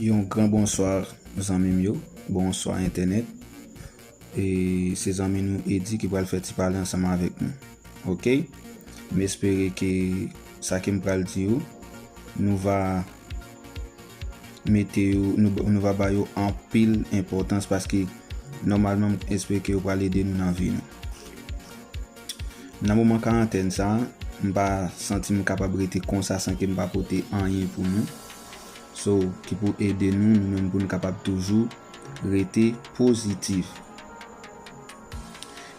Yon gran bonswa zanmim yo, bonswa entènèt e se zanmi nou Eddy ki pral fè ti pale ansanm avèk nou ok m espere ke sa ke m pral di yo nou va mete yo nou va ba yo anpil enpòtans paske nòmalman m espere ke yo pral ede nou nan vi nou. Nan moman karantèn sa, m pa santi m kapab rete konsa san ke m pa pote anyen pou nou. So, ki pou ede nou, nou menm pou nou kapab toujou rete pozitif.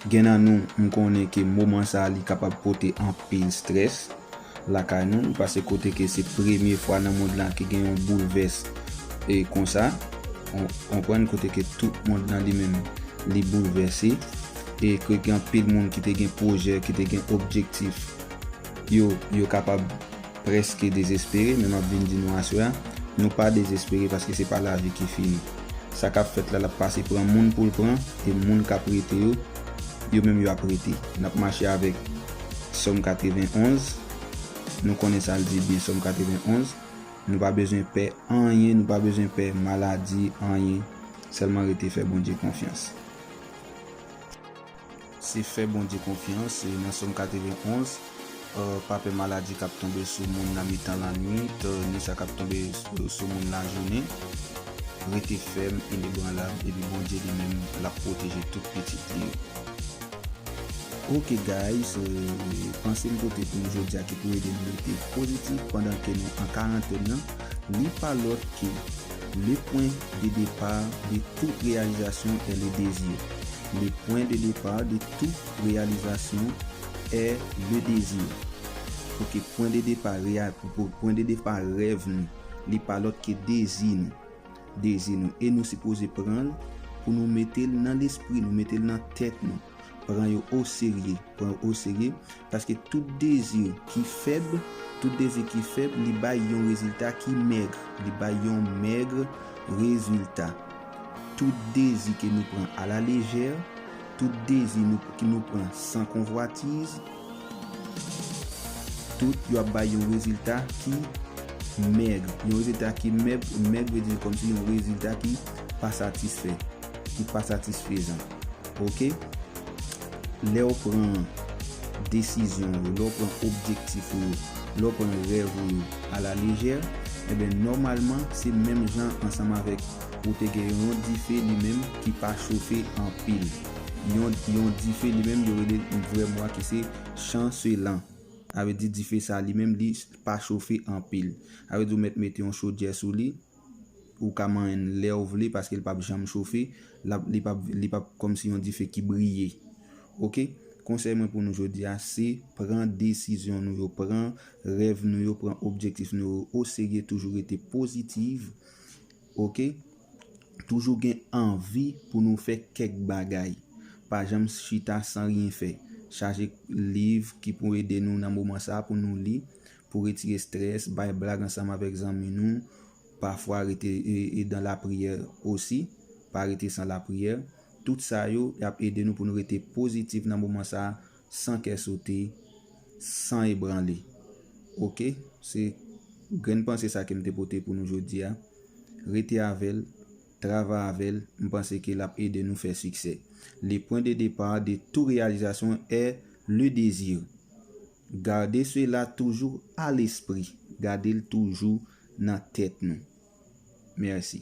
Gen nan nou, m konnen ke moman sa li kapab pote anpil stress. lakay nou ou pase kote ke se premye fwa nan mond lan ke gen yon boulvès e konsa ou konprann kote ke tout mond lan li menm li boulvèse e ke gen anpil moun ki te gen pwojè ki te gen objektif yo yo kapab prèske dezespere men map vin di nou aswè a nou pa dezespere paske se pa lavi ki fini sa kap fèt la lap pase pran moun poul pran e moun kap rete yo yo menm yo ap rete nap mache avèk. Sòm 91, nou konnen sa l di byen Sòm 91, Nou pa bezwen pè anyen, nou pa bezwen pè maladi, anyen, sèlman rete fè Bondye konfyans. Se fè Bondye konfyans, e nan Sòm 91, Pa pè maladi k ap tonbe sou moun nan mitan lannuit, ni sa k ap tonbe sou moun lajounen. Rete fèm, inebranlab, epi Bondye li menm l ap pwoteje tout pitit li yo. Ok guys panse m pote pou nou jodia ki pou ede nou rete pozitif pandan ke nou an karantèn nan li pa lòt ke le pwen de depar de tout reyalizasyon è le dezi le pwen de depar de tout reyalizasyon è le dezi ok pwen de depar reyal pwen de depar rèv nou li pa lòt ke dezi nou. Dezi nou e nou sipoze pran l pou nou mete l nan lespri nou, mete l nan tèt nou, pran yo oserye, pran yo oserye, paske tout dezi ki fèb, tout dezi ki fèb li bay yon rezilta ki mègre, li bay yon mègre rezilta. Tout dezi ke nou pran a la lejè, tout dezi nou ki nou pran san konvwatiz, Tout yo ap bay yon rezilta ki mèg. Yon rezilta ki mèg vle di kòmsi yon rezilta ki pa satisfè, ki pa satisfezan. Ok. Lè ou pran desizyon ou yo, lè ou pran objektif ou yo, lè ou pran rèv ou yo a la lejè, enben nòmalman se menm jan ansanm avèk ou te gen yon dife li menm ki pa chofe anpil. yon dife li menm yo rele yon vrè mwa ki se chanselan. Sa vle di dife sa li menm li pa chofe anpil. Sa vle di ou mèt mete yon chodyè sou li, ou ka manyen l lè ou vle paske li pap janm chofe, li pap kòmsi yon dife ki briye. Ok, konsèy mwen pou nou jodi a se pran desizyon nou yo, pran rèv nou yo, pran objektif nou yo o serye toujou rete pozitiv. Ok toujou gen anvi pou nou fè kèk bagay pa janm chita san ryen fè chaje liv ki pou ede nou nan moman sa pou nou li pou retire strès bay blag ansanm avèk zanmi nou pafwa rete dan lapriyè osi pa rete san lapriyè tout sa yo yap ede nou pou nou rete pozitif nan moman sa san kè sote, san ebranle. Ok, se grenn panse sa ke m te pote pou nou jodi a. Rete avè l, travay avè l, m panse ke l ap ede nou fè siksè. Le pwen de depa de tou reyalizasyon è le dezi. Gade sela toujou a lespri, gade l toujou nan tèt nou. Mèsi.